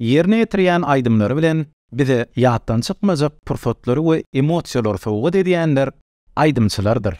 Ýerine ýetirýän aýdymlary bilen bize ýatdan çykmajak pursatlary we emosiýalary sowgat edýänler aýdymçylardyr.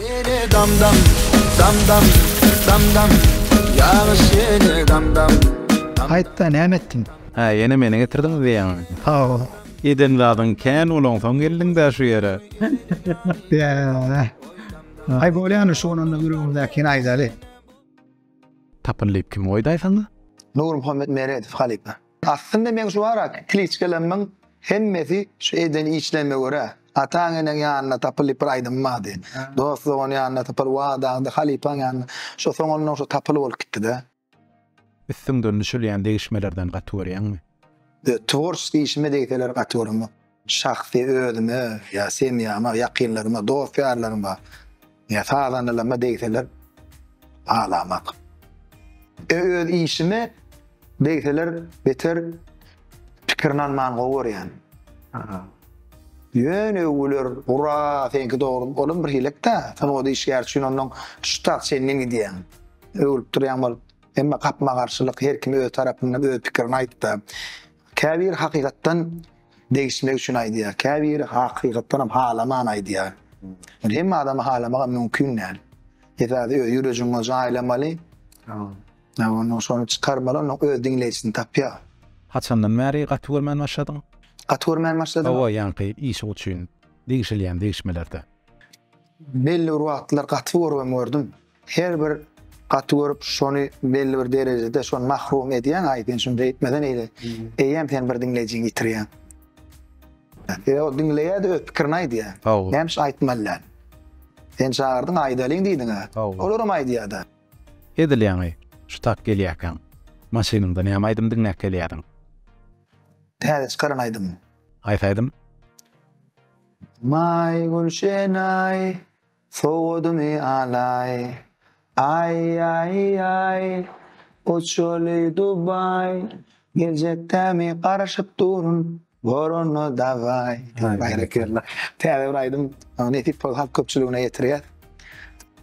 Ýene dam dam, dam dam, dam dam, Ýagyş ýene dam dam, dam. Aýtda näme etdiň? Hä ýene meni getirdiňiz diýýäňmi? Hawa. Eden zadyň kän bolansoň geldiňdä şu ýere. Ýäää. Aý bolýany şu bolanda ýüregimdäkini aýdaly. Tapyn diýip kim goýdaý saňa? Nurmuhammet Meredow halypa. Aslynda meň şu barak kliçkalarymyň hemmesi şu eden işlerime görä, ataň-eneň ýanynda tapyl diýip bir aýdymym bardy. Dost-dogan ýanynda tapyl, wadaňda, halypaň ýanynda. Şo soňundan şo tapyl bolup gitdi-dä. Üstüňden düşülýän degişmelerden gaty görýäňmi? Tworçeskiý işime degseler gaty göremok. Şahsy özüme ýa semýama, ýakynlaryma, dost-ýarlaryma ýa sazandalaryma degseler alamak. E öz işime degseler beter pikirini almany gowy görýän. Ýöne öwgüler gura seňki dogry olam bir hilek-dä sungat işgäri üçin ondan şutat çenli gidýäň. Öwülip durýaň bolup. Emma gapma garşylyk her kim öz tarapyndan öz pikirini aýtdy. Käbiri hakykatdan degişmek üçin aýdýar, käbiri hakykatdanam halaman aýdýar. Ol hemme adamy halamagam mümkin däl. Esasy öz ýürejiňe jaýlamaly. Ýa onda şony çykarmaly, ondan öz diňleýjisini tapýar. Haçandan bäri gaty görmän başladyň? Gaty görmän başladym. Hawa, ýaňky işiň üçin degişilýän degişmelerde. Belli bir wagtlar gaty görgem gördüm. Her bir gaty görüp şony belli bir derejede şony mahrum edýäň aýdýan şunda etmeden eýle eýýäm sen bir diňleýjiňi ýitirýäň. Ýa o diňleýädi öz pikirini aýdýa. Näme üçin aýtmaly däl. Sen çagyrdyň aýdalyň diýdiňä. Olaram aýdýada. Edil ýaňy şu tak gelýäkäň maşynyňda näme aýdym diňläp gelýädiň? Täze çykaran aýdymym. Haýsy aýdym? Maý gülşenaý Sowadymy alaý, aý-aý-aý, uçaly Dubaý, geljekdemi garaşyp durun, gorana dabaý. Berekella. Täze bir aýdym, nesip bolsa halk köpçüligine ýetirýäs.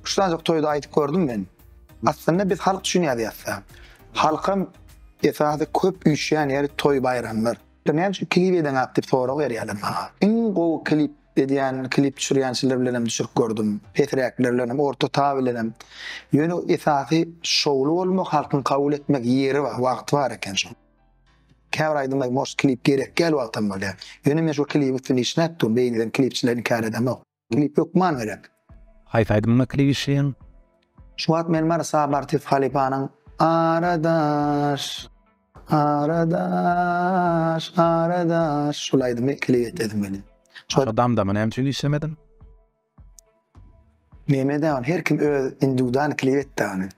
Şudanjyk toýda aýdyp gördüm men. Aslynda biz halk üçin ýazýas-da. Halkam esasy köp üýşýän ýeri toý-baýramlar. Näme üçin klip edeňok diýip sorag berýärler maňa. Iň gowy klip edýän klip düşürýänçiler bilenem düşürip gördüm. Pesräkler bilenem, orta ta bilenem. Ýöne esasy şowly bolmak, halkyň kabul etmek ýeri bar, wagty bar eken şoň. Käbir aýdymlar moş klip gerek däl wagtam bolýar. Ýöne men şol klibiň üstünde işläp durun, beýni eden klipçileri inkär edemok. Klip hökman gerek. Haýsy aýdymyňa klip işleýäň? Şu wagt men Mary Sabartyýew halypanyň Aradaş. Garadaş, garadaş, şul aýdymy klip et edin meni. Şol damdamy näme üçin işlemediň? Neme de ony her kim öz individual klip etdi ony.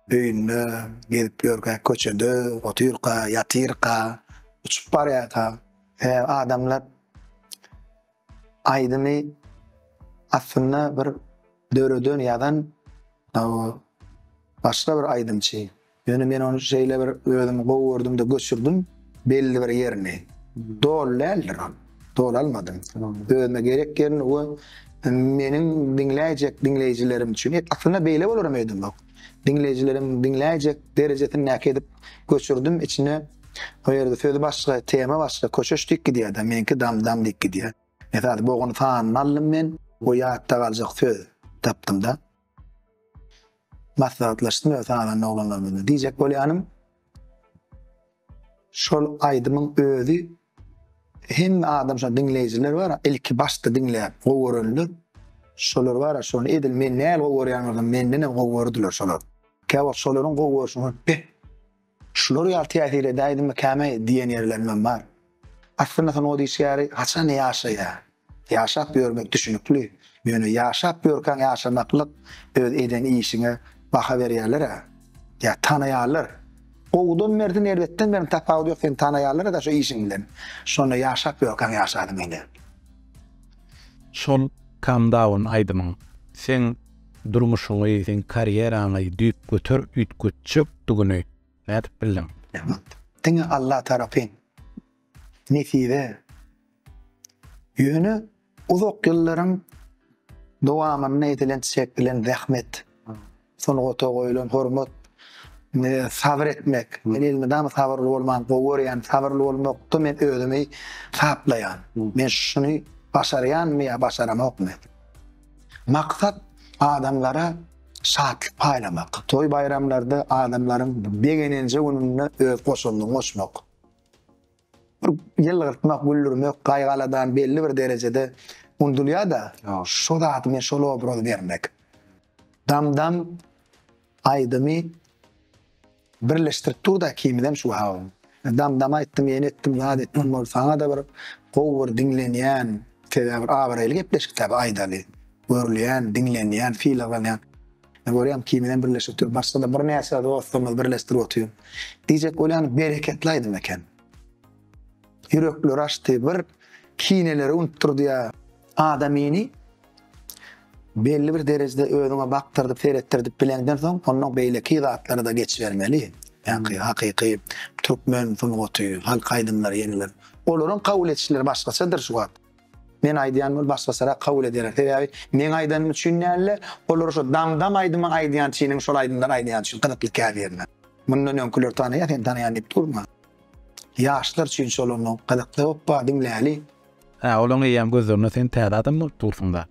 Öýünde gezip ýörkä köçede otyrka, ýatyrka, uçup barýarka e, adamlar aýdymy aslynda bir döreden, ýazan o, başga bir aýdymçy. Ýöne men ony şeýle bir özümi gowy gördüm-de göçürdim belli bir ýerini. Doly däldir ol. Doly almadym. Özüme gerek ýerini we meniň diňläýjek diňleýjilerim üçin, aslynda beýle bolaram öýdemok. Diňleýjilerim diňläýjek derejesindäki edip göçürdim. Içine o ýerde söz başga, tema başga, köşeş diýip gidýär-de, meniňki dam-dam diýip gidýär. Esasy bogany sanyny aldym men we ýatda galjak söz tapdym-da. Maslahatlaşdym öz halanly oglanlarym bilen. Diýjek bolýanym, şol aýdymyň özi hemme adam şony diňleýjiler bar, ilki başda diňläp gowy görenler, şolar bar, şony edil men näl gowy görýän bolsam, mendenem gowy gördüler şolar. Käwagt şolaryň gowy görşüni görüp, beh, Şular ýaly täsir edäýdimi käme diýen ýerlerimem bar. Aslynda sungat işgäri haçan ýaşaýar? Ýaşap ýörmek düşnükli, ýöne ýaşap ýörkäň ýaşamaklyk öz eden işiňe baha berýärler-ä. Ýa tanaýarlar. Gowudan merdi erbetden merdin tapawudy ýok seni tanaýarlar-da şo işiň bilen. Şonda ýaşap ýörkäň ýaşadyň indi. Şol Calm Down aýdymyň. Seň. Durmuşyňy, seň karýeraňy düýp göter üýtgetjekdigini nädip bildiň? Rahmat. Diňe Allah tarapyn. Nesibe. Ýöne uzak ýyllaryň dowamynda edilen çekilen zähmet, sungata goýulan hormat, sabyr etmek. Men elmydama sabyrly bolmany gowy görýän. Sabyrly bolmakda men özümi taplaýan. Men şuny başarýanmy ýa başaramokmy? Maksat adamlara şatlyk paýlamak. Toý baýramlarda adamlaryň begenenje gününde öz goşandyňy goşmak. Bir ýylgyrtmak, güldürmek gaýgaladan belli bir derejede unudylýar-da, şo zady men şol obrazy bermek. Dam-dam. Aýdymy birleşdirip dur da ikimizem şu aw. Damdam aýtdym ýene etdim zat etdim ol saňada bir gowy bir diňlenýän sebäbi bir abraýly gepleşik dä bu aýdaly görülýän diňlenýän sylaglanýan men görýän ikimizem birleşip dur başgada birnäçe dostlarymyzy birleşdirip otyryn diýjek bolýan bereketli aýdym eken ýürekleri açdy bir kineleri unutdyrdy ýa adamyny Belli bir derejede özüňe bakdyrdyp, seretdirdip bileňden soň, ondan beýleki zatlara-da geçibermeli. Ýa-ki, hakyky türkmen sungaty, halk aýdymlary ýeňiler. Olaryň kabul edişleri başgaçadyr şu wagt. Men aýdýan bolup, başgaçarak kabul ederler. Sebäbi meň aýdanym üçin däl-de, olar şo Dam-dam aýdymy aýdýan çynyň şol aýdymlary aýdýany üçin gyzykly käbirine. Mundan öňküleri tanaýa, sen tanaýan diýip durma. Ýaşlar üçin şol onda gyzykly hoppa diňläli. Hä olaň eýýäm gözlerinde sen täze adam bolup dursuňda.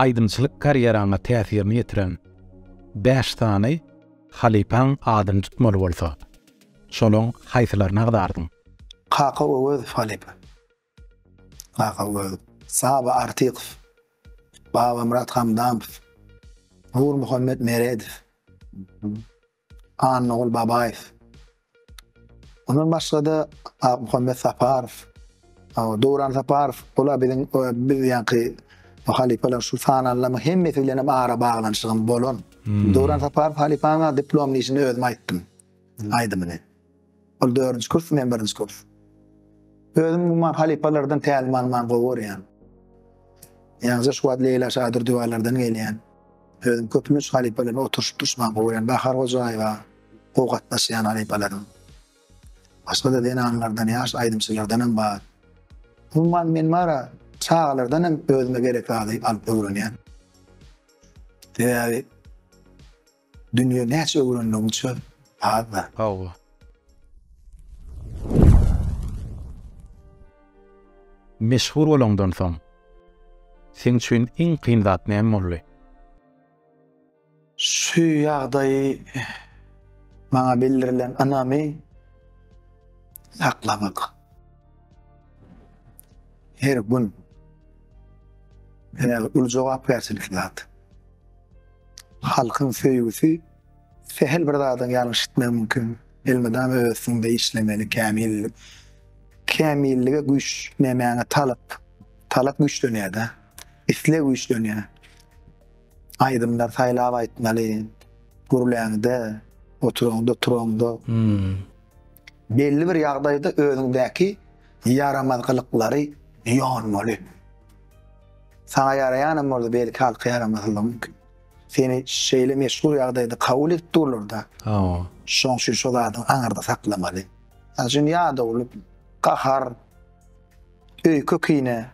Aýdymçylyk karýeraňa täsirini ýetiren bäş sany halypaň adyny tutmaly bolsa şolaň haýsylaryny agzardyň? Kaka Öwezow halypa. Kaka Öwezow. Saba Artykow. Babamyrat Hamdamow. Nurmuhammet Meredow. Annaguly Babaýew. Mundan başga-da Akmuhammet Saparow, Döwran Saparow, olar biziň biz ýaňky halypalar şu sananlaryň hemmesi bilen hem ara baglanyşygym bolan. Döwran Saparow halypanyň diplomly işini özüm aýtdym aýdymyny. Ol dördünji kurs, men birinji kurs. Özüm umuman halypalardan tälim almany gowy görýän. Ýaňja şu wagt Leýla Şadurdyýewalardan gelýän. Özüm köplenç halypalarymyň oturyşyp-duruşmagyny gowy görýän. Bahar Hojaýewa gowy gatnaşýan halypalarym. Başga-da zenanlardan, ýaş aýdymçylardan hem bar. Umuman men bara çagalardan hem özüme gerek zady alyp öwrenýän. Sebäbi. Dünýe näçe öwrendigiňçe azda. Hawa. Meşhur bolaňdan soň seň üçin iň kyn zat näme boldy? Şu ýagdaýy maňa bildirilen ynamy saklamak. Her gün. Ýöne uly jogapkärçilikli zat. Halkyň söýgüsi sähel bir zadyň ýalňyş etmegi mümkin. Elmydama öz üstüňde işlemeli, kämil kämillige güýç nämäňe talap. Talap güýçlenýär-de. Isleg güýçlenýär. Aýdymlar saýlap aýtmaly. Gürläňde, oturaňda, turaňda. Belli bir ýagdaýda özüňdäki ýaramaz gylyklary ýonmaly. Saňa ýaraýanam boldy, belki halka ýaramasalam mümkin. Seni şeýle meşhur ýagdaýda kabul edip durlar-da. Hawa. Şoň üçin şo zadyňy aňarda saklamaly. Mysal üçin ýadawlyk, gahar, öýke-kine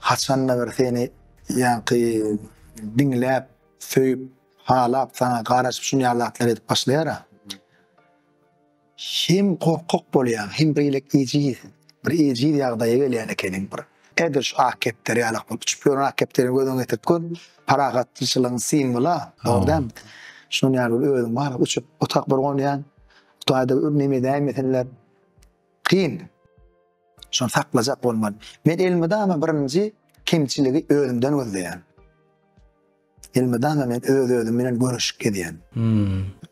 haçan-da bir seni ýaňky diňläp, söýüp, halap, saňa garaşyp şuny ýaly zatlar edip başlaýar-a. Hem gorkak bolýaň, hem beýlek ejiz, bir ejiz ýagdaýa gelýän ekeniň, bir ädirş ak kepder ýalak bolup uçup ýören ak kepderiňi gözüňe getirip gör, parahatçylygyň simwoly-a, dogry dälmi? Şunuň ýaly bir özüň bar, uçup otak bir gonýaň, Hudaý-da neme edäýmesinler, kyn. Şony saklajak bolmaly. Men elmydama birinji kemçiligi özümden gözleýän. Elmydama men öz özüm bilen göreşip gezýän.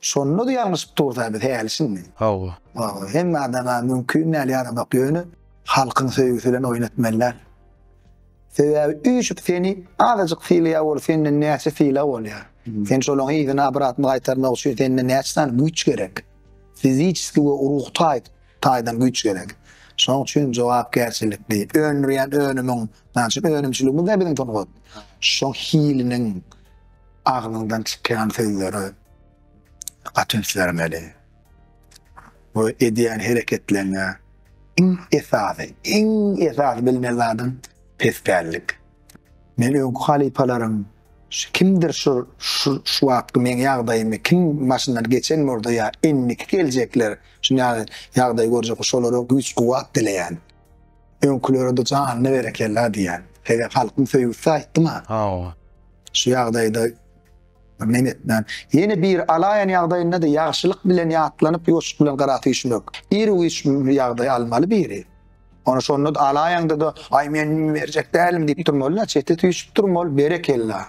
Şonda-da ýalňyşyp dursa biz häli şindi. Hawa. Hawa, hemme adama mümkin däl ýaramak ýöne halkyň söýgüsi bilen oýun etmeli däl. Sebäbi üýşüp seni azajyk sylaýan bolup senden näçe sylag bolýar. Sen şolaň yzyna abratyny gaýtarmak üçin sende näçe sany güýç gerek. Fizisiki we ruh taýdan. taýdan güýç gerek. Şonuň üçin jogapkärçilikli, öndürýän önümiň, näçe önümçiligimiz-de biziň sungat, şo hiliniň agzyňdan çykýan sözleri gaty üns bermeli we edýän hereketleriňe iň esasy, iň esasy bilmeli zadyň pespällik. Men öňki halypalaryň şu kimdir şu şu wagtky meň ýagdaýymy kim başyndan geçen bolsa ýa indiki geljekler şu ýagdaýy görjek bolsa şolara güýç kuwwat dileýän. Öňkülerede janyna berekella diýýän. Sebäbi halkyň söýgüsizde aýtdym-a. Hawa. Şu ýagdaýda men etmän. Ýene biri alaýan ýagdaýynda-da ýagşylyk bilen ýatlanyp ýoşluk bilen garaty üýşmek. Ir-üýş ýagdaý almaly biri. Ony şonda alaýaňda-da, aý men berjek dälim diýip durmaly-da, çete süýşüp durmaly, berekella.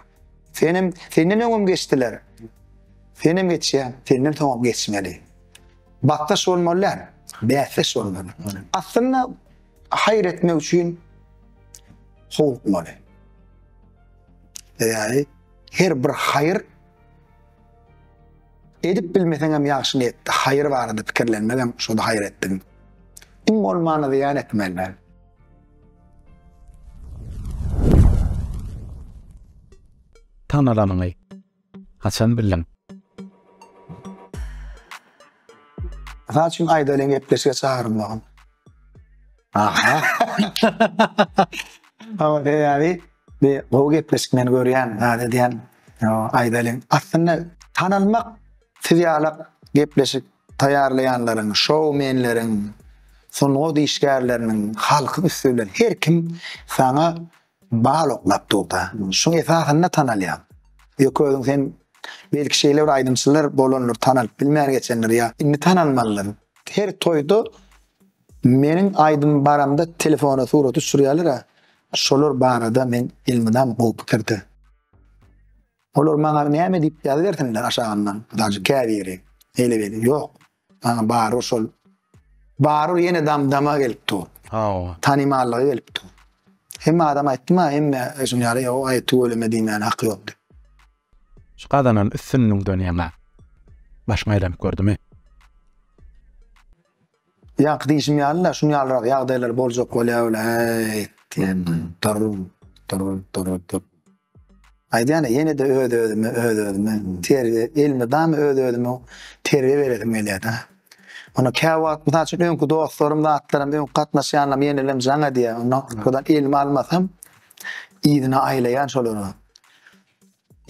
Senem, senden öňem geçdiler. Senem geçýär, senden soňam geçmeli. Bakdaş bolmaly däl, bäsdeş bolmaly. Aslynda haýyr etmek üçin howlukmaly. Ýaly her bir haýyr Edip bilmeseňem ýagşy niýetde haýyr barada pikirlenmegem şo-da haýyr etdigiň. Iň bolmanda zyýan etmeli däl. Tanalanyňy haçan bildiň? Mysal üçin Aýdalyň gepleşige çagyrylmagyn. Aha. Awa, beýabi. Bi gowy gepleşik men görýän zat edýän aýdalyň aslynda tanalmak siz ýala gepleşik taýýarlaýanlaryň şou menleriň sungat işgärleriniň halkyň üsti bilen her kim saňa bal oklap durda şuň esasynda tanalýaň ýöke özüň sen belki şeýle bir aýdymçylar bolandyr tanalyp bilmän geçendir ýa indi tanalmalydyr her toýda meniň aýdym baramda telefona surat düşürýärler a Şolar barada men elmydam gowy pikirde. Olar maňa näme diýip ýazybersinler aşagyndan, dagy käbiri neýle weli, ýok, maňa bary şol, bary ýene dam-dama gelip dur, tanymallyga gelip dur. Hemme adam aýtdy-ma, hemme şuny ýaly, ýok, aý, tüweleme diýmäne haky ýok diýip. Şu gazanan üstünligiňden ýaňa başyňy aýlanyp gördümi? Ýaňky diýşim ýaly-la, şuny ýalyrak ýagdaýlar boljak bolýar welay, diýen dur-dur-dur-dur. Aýdýan-a, ýene-de öz-özüme, öz-özüme terbiýe, elmydama öz-özüme terbiýe beresim gelýär-dä. Onda käwagt, mysal üçin, öňki dostlarym, zatlarym, öňki gatnaşýanlarym ýenelem jaň edýär. Onda elimi almasam, yzyna aýlaýan şolary.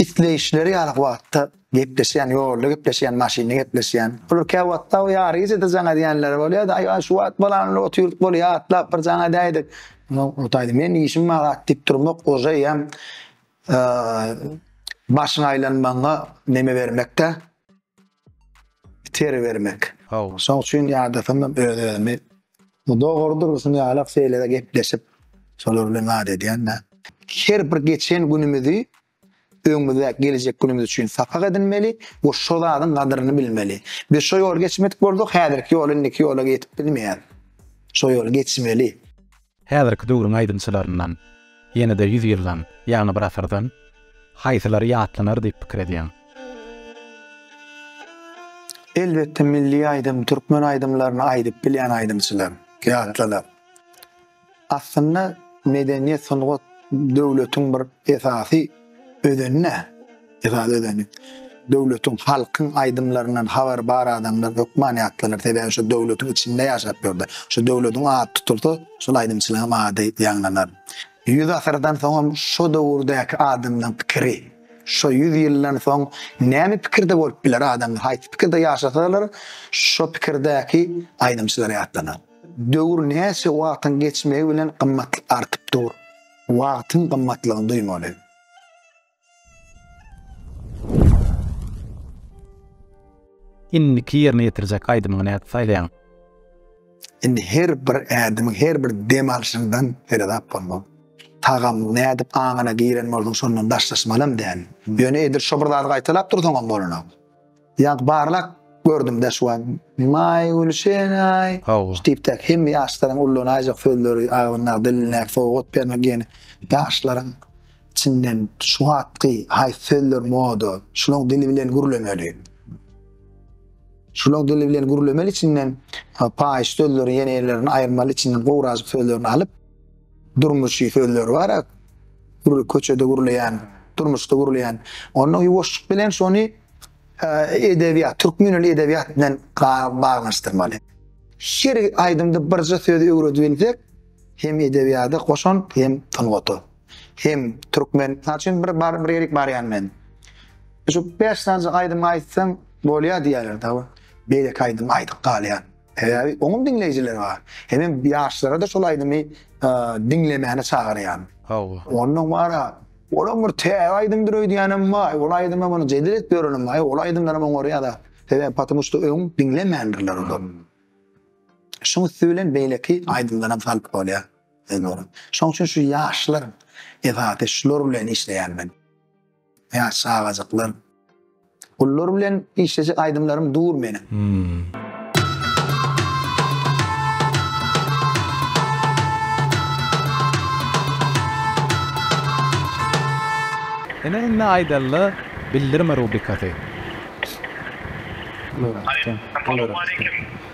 Isleýişleri ýaly wagtda gepleşýän, ýolda gepleşýän, maşynda gepleşýän. Olar käwagtda ýary gijede jaň edýänleri bolýar-da, aý, aý, şu wagt bolanyny otyrdyk bolýa, atlap bir jaň edäýdik. Nogtaý, men işim bar, atdyp durmak ože ýam başyň aýlanmagyňa neme bermek-dä. Biteri bermek. Haw. Şoň üçin ýadasandym öz-özümi. Bu dogry dursun ýalak şeýle-de gepleşip, şolar bilen zat edýän-dä. Her bir geçen günümizi öňümizdäki geljek günümiz üçin sapak edinmeli we şo zadyň gadyryny bilmeli. Biz şo ýoly geçmedik bolsak, häzirki ýoly, indiki ýola ýetip bilmeýäris. Şo ýoly geçmeli. Häzirki döwrüň aýdymçylaryndan ýene-de ýüz ýyldan, ýagny bir asyrdan, haýsylary ýatlanar diýip pikir edýäň? Elbetde milli aýdym, türkmen aýdymlaryny aýdyp bilýän aýdymçylar ýatlanar. Aslynda medeniýet, sungat döwletiň bir esasy Özeni-nä? Esasy özeni. Döwletiň, halkyň aýdymlaryndan habar bar adamlar hökman ýatlanar, sebäbi şo döwletiň içinde ýaşap ýördi. Şo döwletiň ady tutulsa, şol aýdymçylaryň ady ýaňlanar. Ýüz asyrdan soňam şo döwürdäki adamlaryň pikiri, şo ýüz ýyldan soň näme pikirde bolup biler adamlar, haýsy pikirde ýaşasalar, şo pikirdäki aýdymçylar ýatlanar. Döwür näçe wagtyň geçmegi bilen gymmatlyk artyp dur. Wagtyň gymmatlygyny duýmaly. Indiki ýerine ýetirjek aýdymyňy nädip saýlaýaň? Indi her bir ädimiň, her bir dem alşyňdan seredap bolmaly. Tagam nädip aňyna giren bolsa, şondan daşlaşmalam däl. Ýöne edil şo bir zady gaýtalap dursaňam bolanok. Ýaňky barlap gördüm-dä şu wagt. Maý, Gülşen-aý! Hawa. Tipdäki hemme ýaşlaryň ullanan aýjak sözleri, agzyndaky, dilindäki sowgat bermek ýene ýaşlaryň içinden şu wagtky haýsy sözler moda, şulaň dili bilen gürlemeli. Şulaň dili bilen gürlemeli içinden paýyş sözleri ýene ellerini aýyrmaly içinden gowrajyk sözlerini alyp. Durmuşy sözler bar a gürle köçede gürleýän durmuşda gürleýän onda ýuwaşjyk bilen şony edebiýat türkmen il edebiýat bilen baglanyşdyrmaly her aýdymda birje söz öwredibilsek hem edebiýada goşant hem sungata hem türkmen mysal üçin bir bar bir ýerik barýan men şu bäş sanjak aýdym aýtsaň bolýa diýýärler da beýleki aýdym aýdyp galýan. Sebäbi oňum diňleýjileri bar. Hemem ýaşlara-da şol aýdymy diňlemäni çagyrýan. Hawa. Ondan wara, olam bir täze aýdymdyr öýdýänem baý, ol aýdyma muny jedel edip ýörenem baý, ol aýdymlaram oňarýada. Sebäbi patmu şda öň diňlemändirler olar. Şuň üsti bilen beýleki aýdymlaram salyp bolýa. Şoň üçin şu ýaşlar esasy şular bilen işleýän men. Ýaş çagajyklar. Gullar bilen işlejek aýdymlarym dur meniň. Ene indi aýdalla bildirme rubrikasy. Salam aleýkum.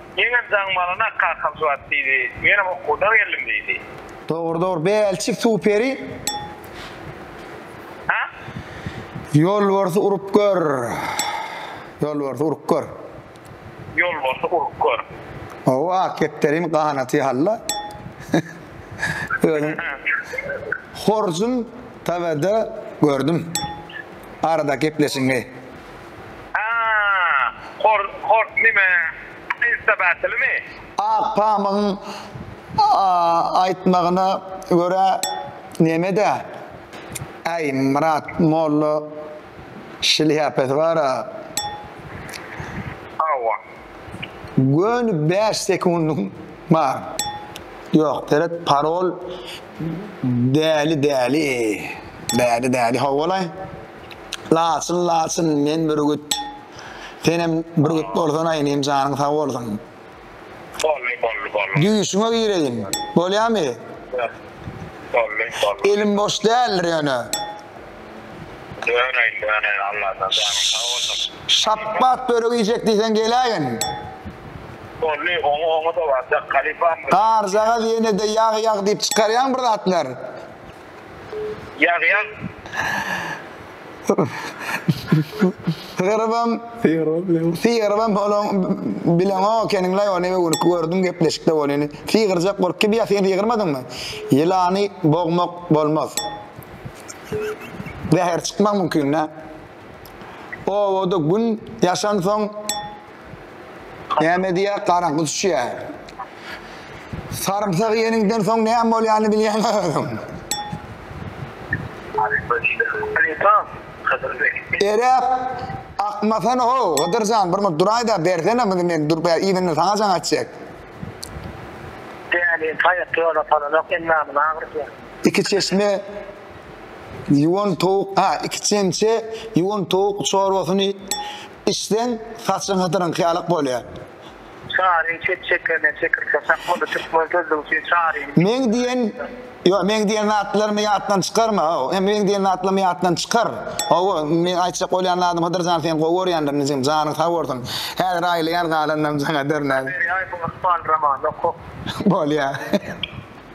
Meňem jaňym alana kakam şuwagt diýdi. Menem okuwdan geldim diýdi. Dogry dogry Bälçik superi. Ha? Ýolbarsy urup gör. Ýolbarsy urup gör. Ýolbarsy urup gör. Hawa ak kepderiň ganaty halla. Özüm horjun TW-de gördüm. Arada gepleşiňi. Haa hort nime insta battlemi. Ak pamygyň aýtmagyna görä nemede äý Myrat molla şlýapasy bara. Hawa. Göni bäş sekundyň bar. Ýok seret parol däli däli däli däli howwalaý. Laçyn laçyn men bürgüt. Senem bürgüt bolsana inim janyň sag bolsun. Bolly bolly bolly. Düýşüňe gireýin. Bolýamy? Bolly bolly. Elim boş däldir ýöne. Döneýin döneýin Allajan janyň sag bolsun. Şapbat börek iýjek diýseň geläýin. Bolly oňa oňa-da barjak halypam. Garjagaz ýene-de ýag ýag diýip çykarýaň bir zatlar. Ýazýan. Sygyrbam, sygyrbam holoň bileňo keniňlaý ony we günki gördüm gepleşikde bolýany. Sygyrjak bolup kim ýa sen sygyrmadyňmy? Ýylany bogmak bolmaz. Zäher çykmak mümkin dä. Obada gün ýaşansoň. Näme diýýär, garaňky düşýär. Sarymsak iýeniňden soň näme bolýanyny bilýäňmi özüň? Halypa diýdi. Halypa, Hydyr beg. Eräp, Akmasana-how, Hydyr jan, bir munt duraý-da, bersene muny men durup iýdinden saňa jaň etjek. Däli, haýatda ýola salanok, endamyny agyrtýar. Iki çeşme ýuwan towuk, ha, iki çemçe ýuwan towuk çorbasyny Içseň, saçyň hydyryňky ýalak bolýar. Çaryň çep çekene çekir saçak boldy türkmen sözlügi üçin çaryň. Meň diýen Ýok meň diýen zatlarymy ýatdan çykarma how hem meň diýen zatlarymy ýatdan çykar hawa meň aýtjak bolýan zadym Hydyrjan seni gowy görýändir inijigim janyň sag bolsun häzir aýylaýan galanynam saňa dernäs. Habery aý bu ykbal romanyny okup. Bolýa.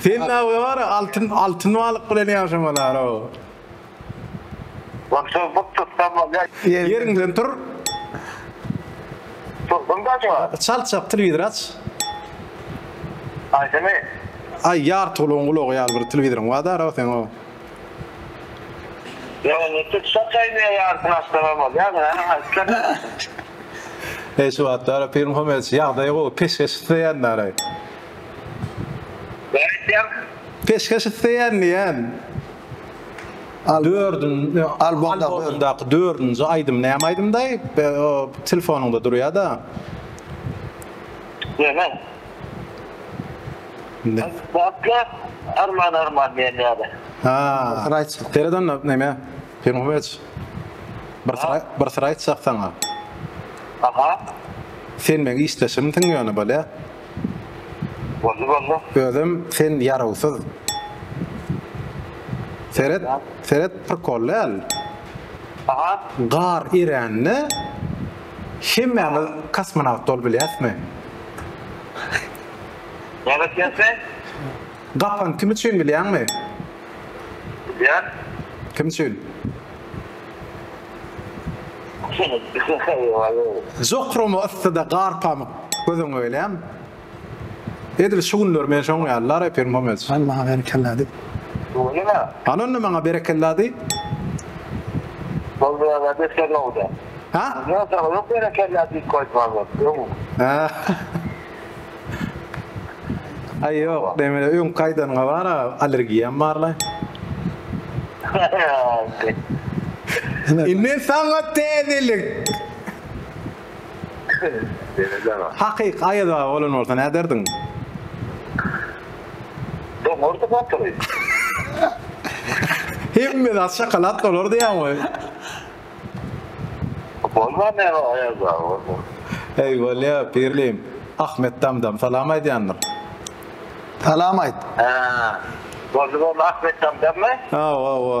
Sen dawga bara altyn altyn balyk bilen ýaşamalaro. Ol çozgup tutsam bolýa. Ýeriňden tur. Turdum da şu wagt. Çalt çalt telewizor aç. Aýdymy. Aý ýartygulaň gulagy ýaly bir telewizoryň bar daro seň o. Eý şu wagtlar Pirim Homedowiç ýagdaýy gowy peşgeş isleýändaray. Näme isleýän? Peşgeş isleýän diýýän. Dördünji albomdaky dördünji aýdym näme aýdymdaý? Telefonyňda durýada. Näme? Indi. Baklap arman arman diýen ýaly. Ha, bir syr aýtjak. Seret onda näme? Pyrmyhyç. Bir syr aý, bir syr aýtjak saňa. Aha. Sen meň işdeşimsiň ýöne bolýa. Boldy boldy. Özem sen ýarawsyz. Seret, seret prikol däl. Aha. Gar erände. Hemmämiz kosmonawt bolup bilýäsmi? Näme etýäň sen? Gapany kim üçin bilýäňmi? Bilýän. Kim üçin? Jokromy yssyda gar pamyk gözüňe gelýämi? Edil şu günler men şoň ýaly la reper momeç. Al maňa berekella diý. Al onda maňa berekella diý. Boldy aga beter nowda. Ha? Ýok aga ýok berekella diýip goýdum aga öň. Ha. Aý ýok neme öňki aýdanyňa bar aga allergiýam bar la. Indi saňa täzelik. Belet aga. Hakyky Aýaz aga bolan bolsa näderdiň? Doňardy batyry. Hemme zat şokolad dolar diýýäň we. Bolmar näme Aýaz aga bolmaz. Eý bolýa Pirlim. Ahmet Damdam salam aýdýandyr. Salam aýt. Hä. Boldy boldy Ahmet Damdammy? Hawa hawa.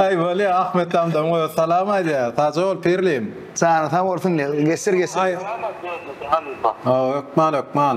Aý bolýa Ahmet Damdam goý salam aýdýa sagja bol pirlim. Jany sag bolsun Gestir Gestir. Hökman hökman.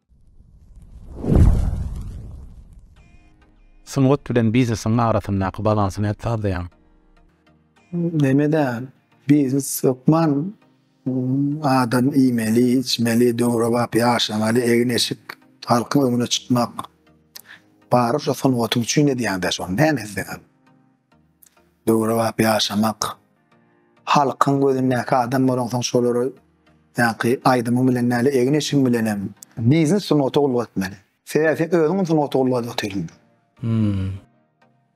Sungat bilen biznesiň arasyndaky balansy nädip sazlaýaň? Näme däl, biznes hökman adam iýmeli, içmeli, döwrebap ýaşamaly, egin-eşik, halkyň öňüne çykmak. Bary şo sungatyň üçin edýäň-dä şony, näme etseňem. Döwrebap ýaşamak. Halkyň gözündäki adam bolaňsoň şolary ýaňky aýdymyň bilen däl egin eşigiň bilenem biznes sungata ulga etmeli. Sebäbi sen özüňem sungata ulga edip otyryn. Hmmm.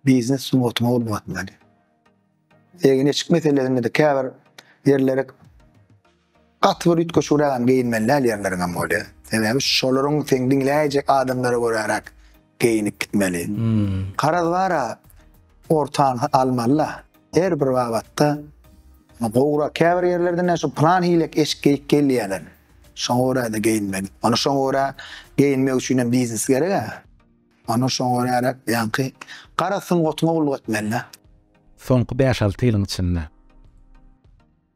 Biznes sungatyňa ulga etmeli. Egin eşik meselesinde-de käbir ýerlere Gaty bir üýtgeşigrägem geýinmelidäl ýerleriňem bolýa. Sebäbi şolaryň seň diňläýjek adamlara göräräk geýinip gitmeli. Garaz bara ortaňy almalyda. Her bir babatda gowrak. Käbir ýerlerde näşo plan hilek eşik geýip gelýäler. Şoňa göräde geýinmeli. Ony şoňa görä geýinmek üçinem biznes gerek-ä. Ony şoňa göräräk ýaňky gara sungatyňa gulluk etmelidä. Soňky bäş-alty ýylyň içinde.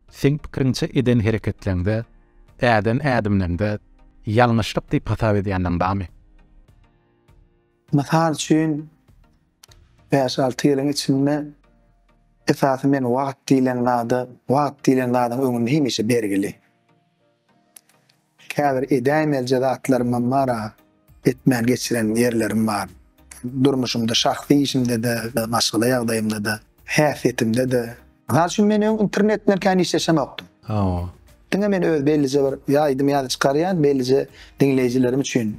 Seň pikiriňçe eden hereketleňde, äden ädimleňde ýalňyşlyk diýip hasap edýänleň barmy? Mysal üçin, bäş-alty ýylyň içinde esasy men wagt diýlen zada, wagt diýlen zadyň öňünde hemişe bergili. Käbir edäýmelije zatlarymam bar-a, etmän geçiren ýerlerim bar. Durmuşymda, şahsy işimde-de, maşgala ýagdaýymda-da, häsiýetimde-de. Mysal üçin, men öň internet bilen kän işleşemokdym. Hawa. Diňe men öz bellije bir ýa aýdym ýa-da çykarýan, bellije diňleýjilerim üçin.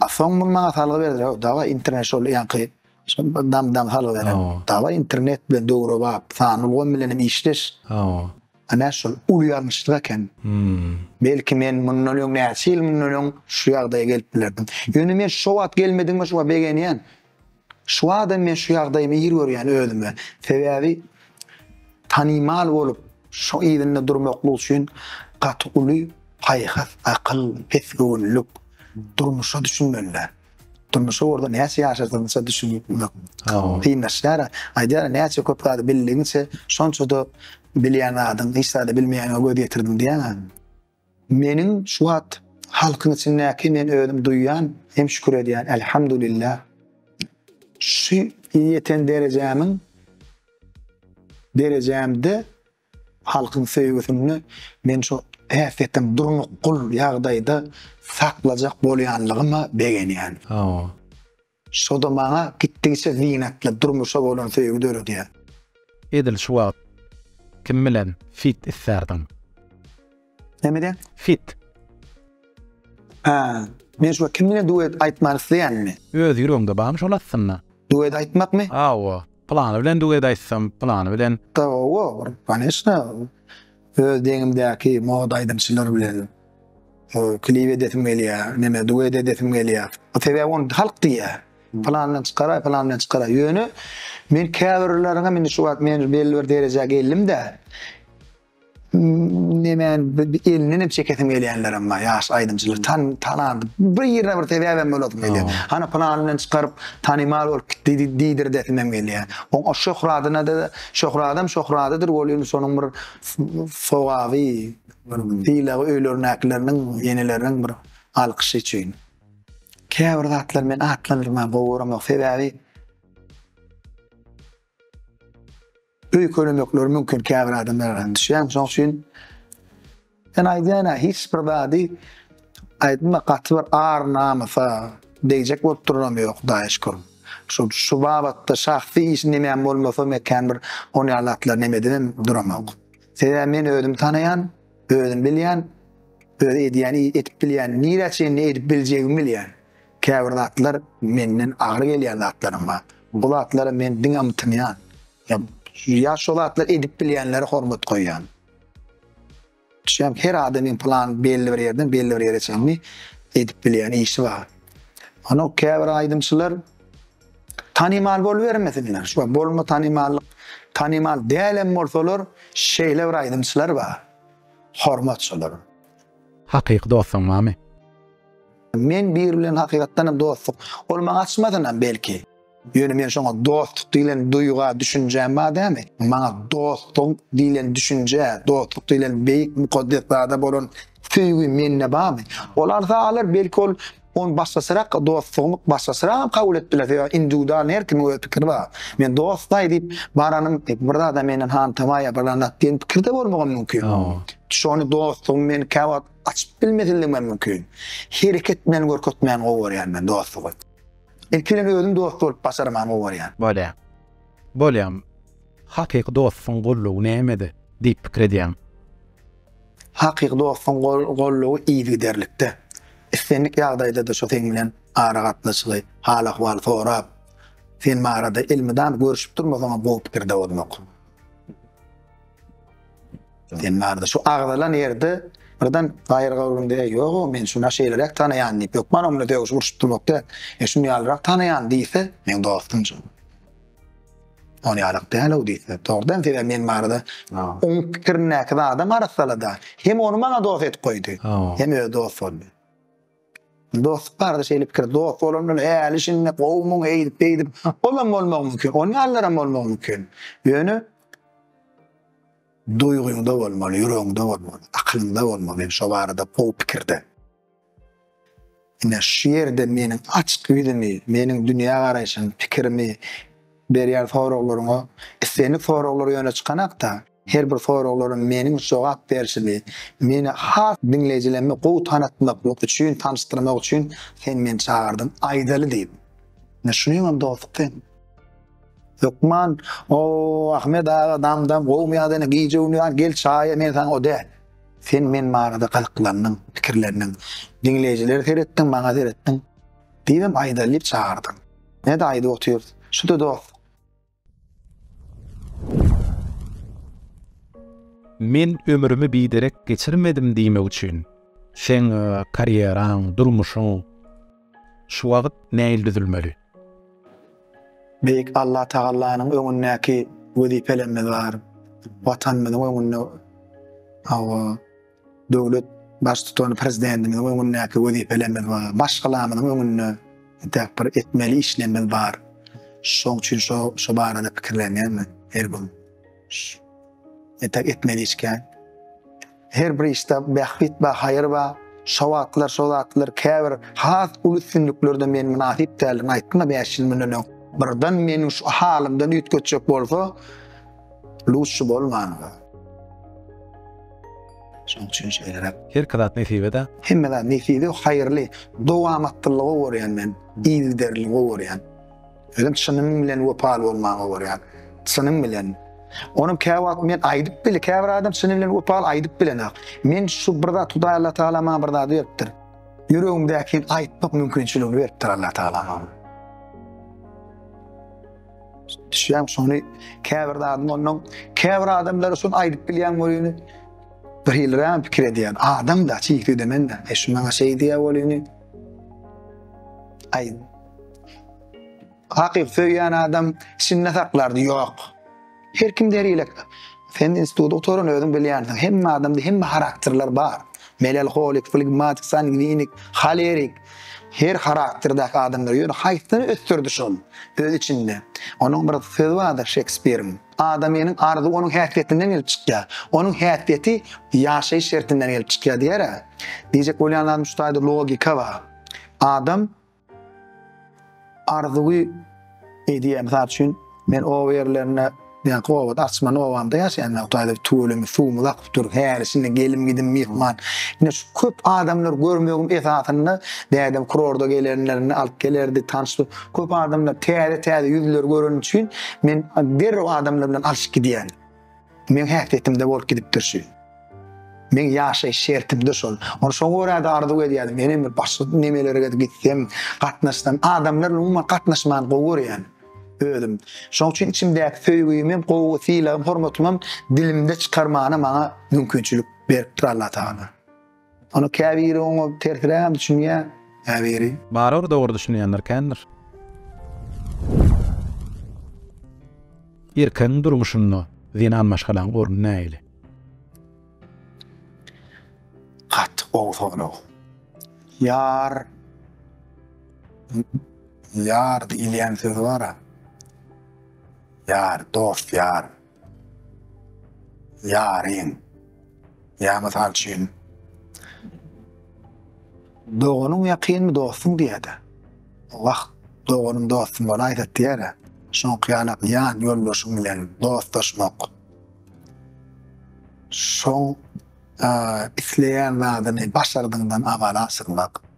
A soň muny maňa salgy berdiler, Hawa, dawaý, internet şol ýaňky Şol bir dam-dam haly beren. Dawa internet bilen döwrebap, sanly ulgam bilen hem işleş. Hawa. Ana şol uly ýalňyşlyk eken. Belki men mundan öň näçe ýyl mundan öň şu ýagdaýa gelip bilerdim. Ýöne men şo wagt gelmedigime şu wagt begenýän. Şu wagtam men şu ýagdaýymy ir görýän özüme. Sebäbi tanymal bolup şo yzynda durmaklyk üçin gaty uly paýhas, akyl, pesgöwünlik, durmuşa düşünmeliler. durmuşy orada näçe ýaşadygyňça düşünmek kynlaşýar. Aýdýar, näçe köp zady bildigiňçe, şonça-da bilýän zadyň, hiç zada bilmeýäniňe göz ýetirdim diýýär. Meniň şu wagt halkyň içindäki men özüm duýýan hem şükür edýän, Elhamdulillah, şu ýeten derejämiň derejämde Halkyň söýgüsini men şu häsiýetiň durnukgul ýagdaýda saklajak bolýanlygyma begenýän. Hawa. Şo-da maňa gitdigiçe zynatly durmuşa bolan söýgi döredýär. Edil şu wagt kim bilen feat islärdiň? Näme diýen? Fit. Ha, men şuwagt kim bilen duet aýtmak isleýänmi? Öz ýüregiňde barmy şol aslynda? Duet aýtmakmy? Hawa, pylany bilen duet aýtsam, pylany bilen. Hawa, kanyşna. Öz deňimdäki moda aýdymçylar bilen klip edesim gelýär, näme, duet edesim gelýär. Sebäbi ony halk diýýär. Pylan bilen çykaraý, pylan bilen çykaraý. Ýöne men käbirleriňem indi şuwagt men belli bir derejä geldim-dä. Nemäni bi elinden hem çekesim gelýänlerem bar ýaş aýdymçylary tan tanan bir ýerine bir sebäbem bolasym gelýär. Hany pylany bilen çykaryp tanymal bolup gitdi diýdirdesim hem gelýär. Oň o şöhradyna-da şöhradam şöhradydyr ol indi şonuň bir sogaby bir sylagy öýlerindäkileriniň eneleriniň bir alkyşy üçin. Käbir zatlary men atlandyrmagy gowy göremok sebäbi. Öýkelemekleri mümkin käbir adamlar garaşýan şoň üçin sen aýdýana hiç bir zady aýtma gaty bir ar namysa degjek bolup duranam ýok daýyşkom şu şu babatda şahsy işi nemem bolmasa mekän bir on ýaly zatlar nemedibem duramok sebäbi men özüm tanaýan özüm bilýän öz edýän edip bilýän nirä çenli edip biljegimi bilýän. Käbir zatlar menden agyr gelýän zatlaram bar. Bu zatlara men diňe ymtynýan. Ýa şo zatlary edip bilýänlere hormat goýýan. Düşýäňmi? Her adamyň plan belli bir ýerden belli bir ýere çenli edip bilýän işi bar. Ony käbir aýdymçylar tanymal bolubermesinler. Şu bolma tanymallyk, tanymal dälem bolsalar, şeýle bir aýdymçylar bar. Hormat şolara. Hakyky dostuň barmy? Men biri bilen hakykatdanam dostluk, ol maňa açmasynam belki. Ýöne men şoňa dostluk diýlen duýga, düşünjä madämi, maňa dostluk diýlen düşünjä, dostluk diýlen beýik mukaddes zada bolan söýgi mende barmy? Ol arsa alar, belki ol ony başgaçarak, dostlugymy başgaçaragam kabul edip biler, sebäbi indiwidualny her kimiň öz pikiri bar. Men dostlaý diýip baranym, bir zada menden hantama ýa bir zat diýen pikirde bolmagam mümkin. Şony dostlugymy men käwagt Açyp bilmesinligimem mümkin. Hereket bilen görkezmäni gowy görýän men dostlugy. Ilki bilen özüm dost bolup başarmany gowy görýän. Bolýa. Bolýam. Hakyky dostuň gollugy nämede diýip pikir edýäň? Hakyky dostuň gollugy yzygiderlikde. Islendik ýagdaýda-da şo seň bilen aragatnaşygy, hal-ahwal sorap, sen barada elmydam görüşip durmasaňam gowy pikirde bolmak. Sen barda şu agzalan ýerde birden gaýyr gawrun diýä ýok men şuna şeýleräk tanaýan diýip ýokman onda döwüş urşup durmak da e şun ýalyrak tanaýan diýse men dostum şu on ýalyk däl o diýse dogrudan sebäbi men barda oň pikirindäki zadam arassalada hem ony maňa dost edip goýdy hem öz dost boldy Dost barada şeýle pikir, dost bolan bilen äli şindi gowumyň eýdip beýdip olam bolmagy mümkin, on ýalylaram bolmagy mümkin. Ýöne duýgyňda bolmaly, ýüregiňde bolmaly, akylyňda bolmaly, men şo barada gowy pikirde. Ine şu ýerde meniň açyk ýüzümi, meniň dünýä garaýşym, pikirimi berýän soraglaryňa islendik soraglar ýöne çykanakda, Her bir soraglaryň meniň jogap berşimi, meni has diňleýjilerime gowy tanatmak üçin, tanyşdyrmak üçin sen meni çagyrdyň. Aýdaly diýip. Ine şunuň hem dostluk sen. Hökman, O-o-o, Ahmet aga, dam-dam, gowumy ýa-da ine, gije unuýan, gel çaýa, men saňa o-de. Sen men barada gyzyklandyň, pikirlendiň. Diňleýjilere seretdiň, maňa seretdiň. Diýibem aýdaly diýip çagyrdyň. Ine-de aýdyp otyrys. Şu-da dostluk. Men ömrümi biderek geçirmedim diýmek üçin, seň karýeraň, durmuşyň şu wagt nähili düzülmeli? Beýik Allatagallanyň öňündäki wezipelerimiz bar. Watanymyzyň öňünde hawa, Döwlet Baştutany Prezidentimiziň öňündäki wezipelerimiz bar. Maşgalamyzyň öňünde entäk bir etmeli işlerimiz bar. Şoň üçin şo barada pikirlenýän men her gün. Entäk etmeli iş kän. Her bir işde bähbit bar, haýyr bar. Şo wagtlar, şo zatlar käbir has uly üstünliklerden men mynasyp däldigini aýtdym-a bäş ýyl mundan öň. Birden meniň şu halymdan üýtgetjek bolsa, Luşy bolmanda. Şoň üçin şeýleräk. Herki zat nesip eda. Hemme zat nesibi haýyrly. Dowamatlylyga gorýan men. Yzgiderligi gorýan. Özüm çynym bilen wepaly bolmaga gorýan. Çynym bilen. Onuň käwagt men aýdyp bile käbir adam çyny bilen wepaly aýdyp bilenok. Men şu bir zat Hudaý Allah Tagala maňa bir zady beripdir. Ýüregimdäkini aýtmak mümkinçiligini beripdir Allah Tagala maňa. Düşýän şony käbir adam ondan käbir adamlar şun aýdyp bilýän bolýany bir hil ram pikir edýän adam da çiýik edemen de e şu maňa şeý diýýä bolýany aý hakyk söýýän adam içinde saklardy ýok Her kim der ilek. Sen instituty gutaran özüň bilýänsiň. Hemme adamda hemme harakterler bar. Melalholik, flegmatik, sangwinik, holerik. Her harakterdäki adamlar. Ýöne haýsyny ösdürdi şol öz içinde. Onuň bir sözi bardyr Şekspiriň. Adamynyň arzuwy onuň häsiýetinden gelip çykýar. Onuň häsiýeti ýaşaýyş şertinden gelip çykýar diýer-ä. Diýjek bolýanlarym şu taýda logika bar. Adam Arzuwy edýär. Mysal üçin, men oba ýerlerinde, ýa-da obada, açman obamda ýaşaýan men. Hudaý edip, tüweleme suwumyz akyp dur. Häli-şindi gelim-gidim, myhman. Ine, şu köp adamlary görmegiň esasynda dädem kurorda gelenlerinde alyp gelerdi, tanyş köp adamlar, täze-täze ýüzleri göreni üçin men derrew adamlar bilen alyşyp gidýärdim. Meň häsiýetimde bolup gidipdir şu. Meň ýaşaýyş şertimde şol. Ony şoňa görä-de arzuw edýädim. Menem bir başga nemelere gezip gitsem, gatnaşsam, adamlar bilen umuman gatnaşmany gowy görýän özüm. Şoň üçin içimdäki söýgimi, gowy sylagym, hormatymam dilimde çykarmana maňa mümkinçilik beripdir Allatagala. Ony käbiri oňa tersirägem düşünýär, käbiri. Barybir dogry düşünýänler kändir. Erkegiň durmuşynda zenan maşgalaň orny nähili? Gaty gowy sorag. Ýar ýar diýilýän söz bar-a. Ýar, dost, ýar. Ýaryň. Ýa mysal üçin doganyň ýakynmy dostuň diýýärdi. Wah, doganym dostum bolaýsa diýär. Şoňky ýaly ýan ýoldaşyň bilen dostlaşmak. Şoň isleýän zadyny başardygyňdan amal asyrmak.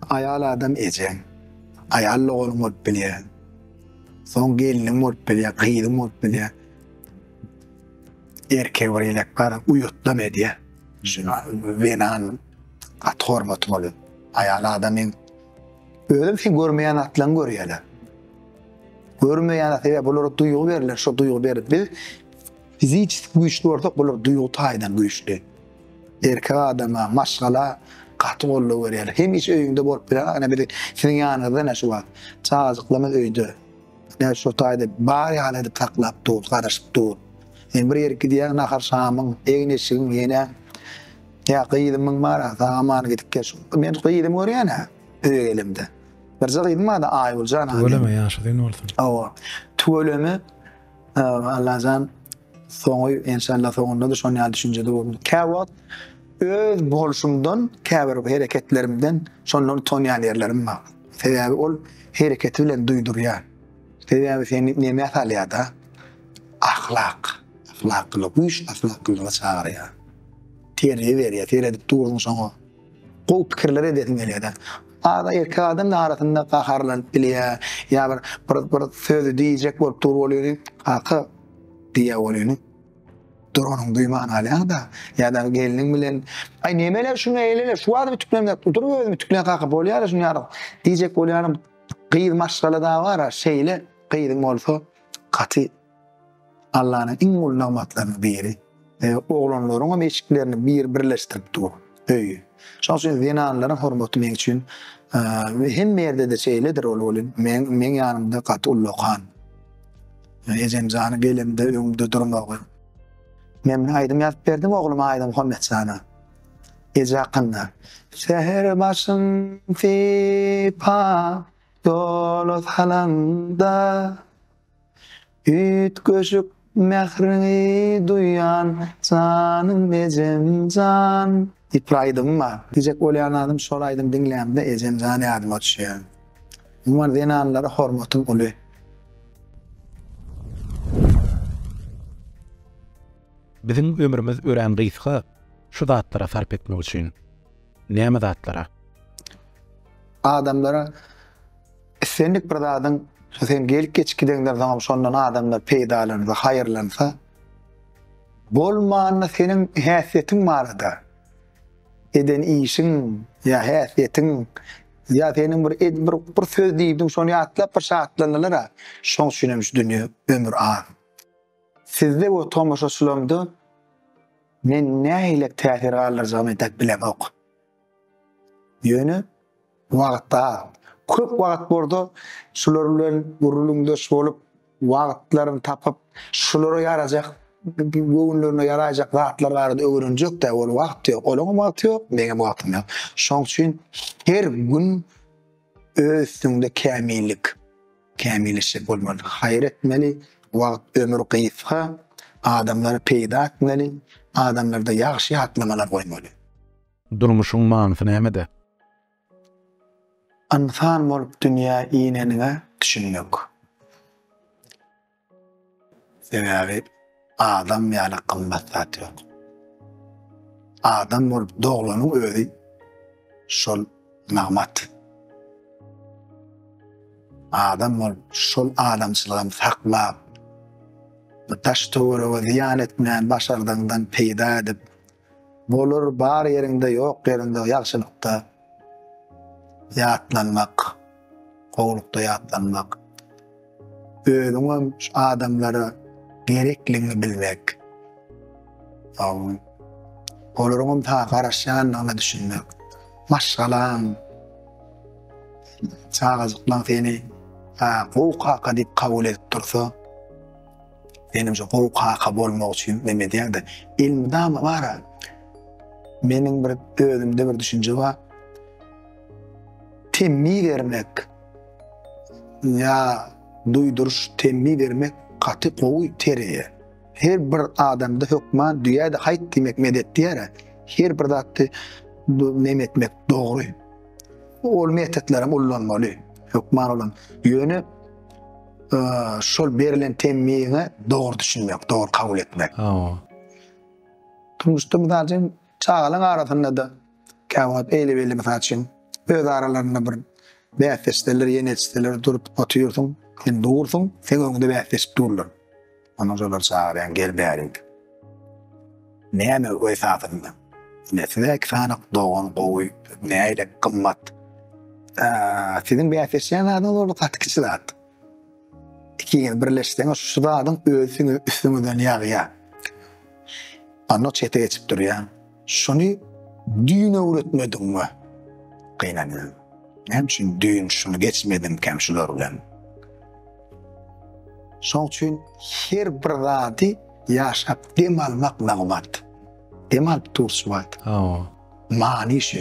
Aýal adam ejeň, aýal doganyň bolup bilýär. Soň gelniň bolup bilýär, gyzyň bolup bilýär. Erkek bir elek bar, uýatlam edýär. Şuna zenan gaty hormaty bolýar. Aýal adamyň özem sen görmeýän zatlaryňy görýärler. Görmeýän zat, sebäbi bulara duýgy berlen, şo duýgy berip biz fiziçeski güýçli bolsak, bular duýgy taýdan güýçli. Erkek adama maşgala gaty goldaw berýär. Hemişe öýüňde bolup bilen ene biz siziň ýanyňyzda ene şu wagt. Çagajyklarymyz öýde. Ene şu taýda bar ýaly edip saklap durus, garaşyp dur. Men bir ýere gidýän nahar şamyň, egin-eşigiň ene. Ýa gyzymyň bar a sag aman gidip gel. Men gyzymy görýän a öýe gelemde. Birje gyzym bar-da Aýgüljan a. Tüweleme ýaşy uzyn bolsun. Hawa. Tüweleme Allajan soňy enşalla soňunda da şon ýaly düşünjede bolun. Kä wagt öz bolşumdan, käbir hereketlerimden şonda utanýan ýerlerim bar. Sebäbi ol hereketi bilen duýdurýar. Sebäbi seni nämä salýada? Ahlak. Ahlaklylyk, güýç ahlaklylyga çagyrýar. Terbiýe berýär, seredip durduň şoňa. Gowy pikirler edesiň gelýär-de. Ada erkek adam da arasynda gaharlanyp bilýär, ýa bir bir bir sözi diýjek bolup dur bolýuny, Kaka diýýä bolýuny. Duranyň duýman galýaňda, ýa-da gelniň bilen, Aý neme-le şuny eýle-le, şu wagt ütüklemläp dur özüm ütükleýän kaka bolýa-da şuny ýaly diýjek bolýanym. Gyz maşgala da bar-a şeýle gyzyň bolsa gaty. Allanyň iň uly nygmatlarynyň biri. Oglanlaryň hem eşiklerini bir birleşdirip dur. Öý. Şoň üçin zenanlaryň hormaty meň üçin we hemme ýerde-de şeýledir ol welin men meň ýanymda gaty ullakan. Ejemjany gelemde öňümde durmagy. Men aýdym ýazyp berdim ogluma Aýda Muhammetjana. Eje hakynda. Säher başym sypap doly salanda Üýtgeşik mähriňi duýan, janym ejem jan. Diýip aýdym bar. Diýjek bolýan zadym şol aýdym diňlämde ejem jan ýadyma düşýär. Umuman zenanlara hormatym uly. Biziň ömrümiz örän gysga şu zatlara sarp etmek üçin. Näme zatlara? Adamlara. Islendik bir zadyň şu sen gelip geçip gideňden soňam şondan adamlar peýdalansa, haýyrlansa, bolmanda seniň häsiýetiň barada, eden işiň ýa häsiýetiň ýa seniň bir ed bir bir söz diýdiň, şony ýatlap bir şatlandylar-a, şoň üçin hem şu dünýä ömür az. Sizde we tomaşaçylarymda men nähilek täsir galdyrjagymy edep bilemok. Ýöne wagt az. Köp wagt bordo şular bilen gürrüňdeş bolup, wagtlaryny tapyp, şulara ýarajak, göwünlerine ýaraýjak zatlar barada öwrenjek-dä bolup wagt ýok. Olaňam wagty ýok, meňem wagtym ýok. Şoň üçin her gün Öz üstüňde kämillik, kämilleşjek bolmaly, haýyr etmeli, wagt, ömür gysga, adamlary peýda etmeli, adamlarda ýagşy ýatlamalar goýmaly. Durmuşyň manysy nämede? Ynsan bolup dünýä ineniňe düşünmek. Sebäbi adam ýaly gymmat zat ýok. Adam bolup doglanyň özi şol nygmat. Adam bolup şol adamçylygam saklap, bu daş-töwerege zyýan etmän başardygyňdan peýda edip, Bolar bar ýeriňde ýok ýeriňde ýagşylykda ýatlanmak, gowulykda ýatlanmak, özüňem şu adamlara gerekligiňi bilmek, olaryňam saňa garaşýandygyna düşünmek, maşgalaň, çagajyklaň seni gowy kaka diýip kabul edip dursa, Menimçe gowy kaka bolmak üçin neme edýärdi? Elmydama bara. Meniň bir özümde bir düşünje bar. Temmi bermek ýa duýduryş temmi bermek gaty gowy tereýär. Her bir adamda hökman düýäde haýt diýmek medet diýär. Her bir zatdy neme etmek dogry. Ol metodlary ullanmaly. Hökman olam. Ýöne şol berilen temmiňe dogry düşünmek, dogry kabul etmek. Hawa. Turmuşda mysal üçin çagalaryň arasynda da käwagt eýle belli mysal üçin öz aralarynda bir bäsdeşler, ýene etseler durup otyrsyň, sen dursuň, sen öňde bäsdeşip durlar. Ony şolar çagyrýan gel bäri diýip. Näme esasynda? Ine size iki sany dogan gowy, näle gymmat. Aa, siziň bäsleşýän zadyňyz boldy gaty kiçi zat. Ikiňiz birleşseňiz şu zadyň özi siziň üstüňizden ýagýar. Anna çete geçip durýar. Şuny düýn öwretmediňmi? Gynanýan. Näme üçin düýn şuny geçmedimkäm şular bilen? Şoň üçin her bir zady ýaşap dem almak nygmat. Dem alyp durç wagt. Hawa. Many şu.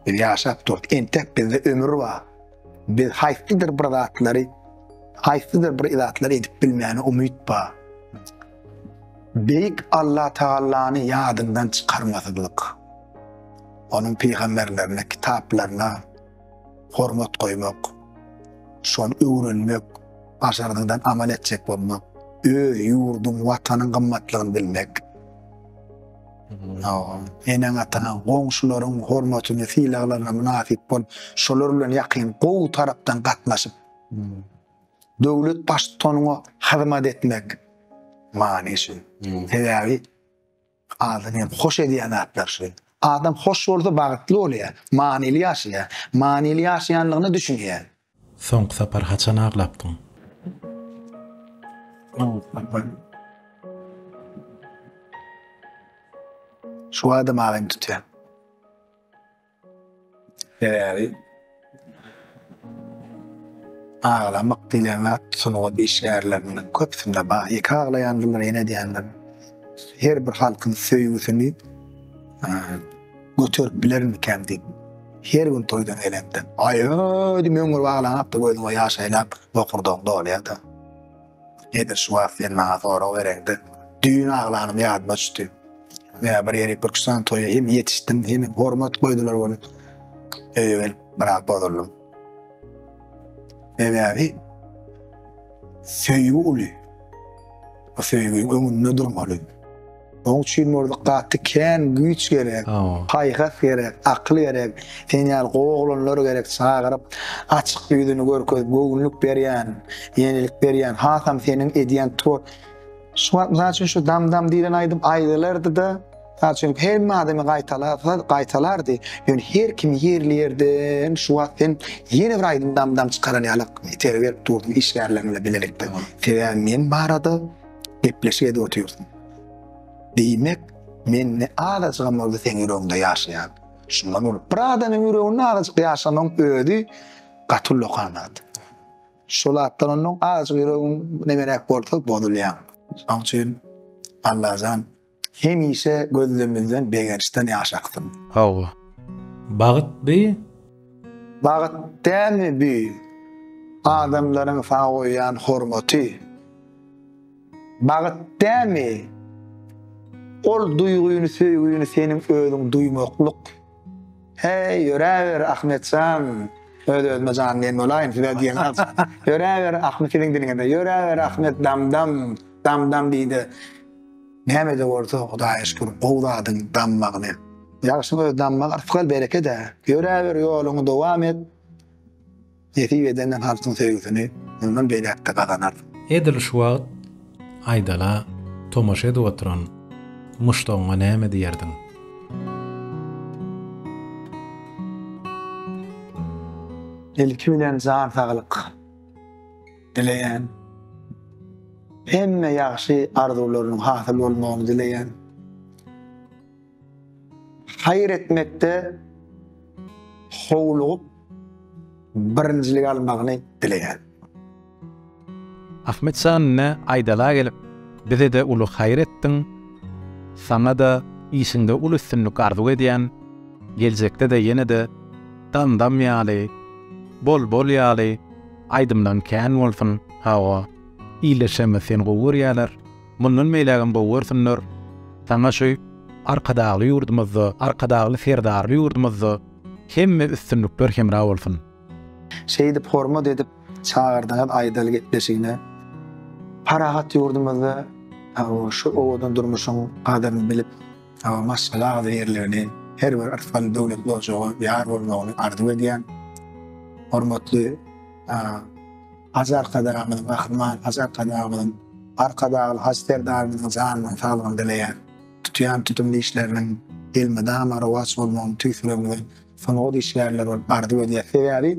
Biz ýaşap durduk. Entek bizde ömür bar. Biz haýsydyr bir zatlary, haýsydyr bir zatlary edip bilmäne umyt bar. Beýik Allatagallany ýadyňdan çykarmazlyk, Onuň pygamberlerine, kitaplaryna hormat goýmak, şony öwrenmek, başardygyňdan amal etjek bolmak, öz ýurduň, Watanyň gymmatlygyny bilmek, eneň-ataňa, goňşularyň hormatyna, sylaglaryna mynasyp bol, şolar bilen ýakyn, gowy tarapdan gatnaşyp, döwlet baştutanyna hyzmat etmek many şu. Sebäbi adamy hoş edýän zatlar şu. Adam hoş bolsa bagtly bolýar, manyly ýaşaýar, manyly ýaşaýandygyna düşünýär. Soňky sapar haçan aglapdyň? Soňky sapar Şu adam aglym tutýar. Sebäbi aglamak diýlen zat sungat işgärleriniň köpüsinde bar. Ýeke aglaýandylar, ýene edýändir. Her bir halkyň söýgüsini göterip bilermikäm diýip, her gün toýdan gelende, aý-aý diýip öňňürip aglaňakda gözüňe ýaş aýlap bokurdagyň dolýar-da. Nedir şu wagt sen maňa sorag bereňde düýn aglanym ýadyma düşdi. Ýa bir ýerik Türkistan toýa hem ýetişdim hem hormat goýdular ony. Öýe gelip biraz bozuldym. Sebäbi söýgi uly. Bu söýgiň öňünde durmaly. Oň üçin Murzyk gaty kän güýç gerek, paýhas gerek, akyl gerek, sen ýaly gowy oglanlar gerek çagyryp açyk ýüzüni görkezip göwünlik berýän, ýenelik berýän hasam seniň edýän twor Şu wagt mysal üçin şu dam dam diýlen aýdym aýdylardyda mysal üçin hemme adamy gaýtalasa gaýtalardy ýöne her kim ýerli ýerden şu wagt sen ýene bir aýdym dam dam çykaran ýaly itergi berip durdyň işgärleriňle bilelikde sebäbi men barada gepleşik edip otyrsyň. Diýmek, men ne azajygam bolsa seň ýüregiňde ýaşaýan. Şundan bolup, bir adamyň ýüreginde azajyk ýaşamagyň özi gaty uly okanat. Şol atdan onnoň azajyk ýüregiň nemeräk bolsa bozulýaň. Şoň üçin Allajan Hemişe gözlemizden begençden ýaş aksyn. Hawa. Bagt bi. Bagt dälmi bi. Adamlaryň saňa goýýan hormaty. Bagt dälmi. Ol duýgyny söýgini seniň özüň duýmaklyk. Heý ýöräber Ahmetjan. Öz özüme jan diýen bolaýyn size diýen az. Ýöräber Ahmet siziň diliňizde. Ýöräber Ahmet dam dam. Dam dam diýde. Nämede bolsa Hudaýa şükür gowy zadyň dammagyny. Ýagşyň öz dammagy rysgal berekede. Ýöräber ýoluňy dowam et. Nesip edende halkyň söýgüsini mundan beýläkde gazanarsyň. Edil şu wagt Aýdala tomaşa edip oturan muşdagyňa näme diýerdiň? Ilki bilen jan saglyk. dileýän. Hemme ýagşy arzuwlarynyň hasyl bolmagyny dileýän. Haýyr etmekde howlugyp birinjilik almagyny dileýän. Ahmet Şanyna aýdala gelip, bize-de uly haýyr etdiň, saňa-da işiňde uly üstünlik arzuw edýän, geljekde-de ýene-de dam-dam ýaly, bol-bol ýaly, Aýdymlaň kän bolsun Hawa illeşemmiz seni gowy görýäler mundan beýlägem gowy görsünler saňa şu Arkadagly ýurdumyzda Arkadagly Serdarly ýurdumyzda hemme üstünlikler hemra bolsun. Şeýdip hormat edip çagyrdyňyz aýdaly gepleşigine. Parahat ýurdumyzda şu owadan durmuşyň gadyryny bilip. Salam maşgala agzy ýerlerini her bir ysgal döwletli ojaga ýar bolmagyny arzuw edýän hormatly Hajy Arkadagymyzyň Gahryman Hajy Arkadagymyzyň Arkadagly Hajy Serdarymyzyň janynyň saglygyny dileýän tutýan tutumly işleriniň elmydama rowaç bolmagyny tüýs ýüregimizden sungat işgärleri bolup arzuw edýäs sebäbi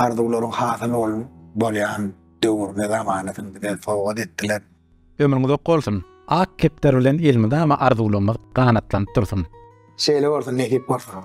arzuwlaryň hasyly bolýan döwrüne zamanasyn bize sowgat etdiler. Ömrüň uzak bolsun. Ak kepder bilen elmydama arzuwlarymyz ganatlanyp dursun. Şeýle bolsun nesip bolsa.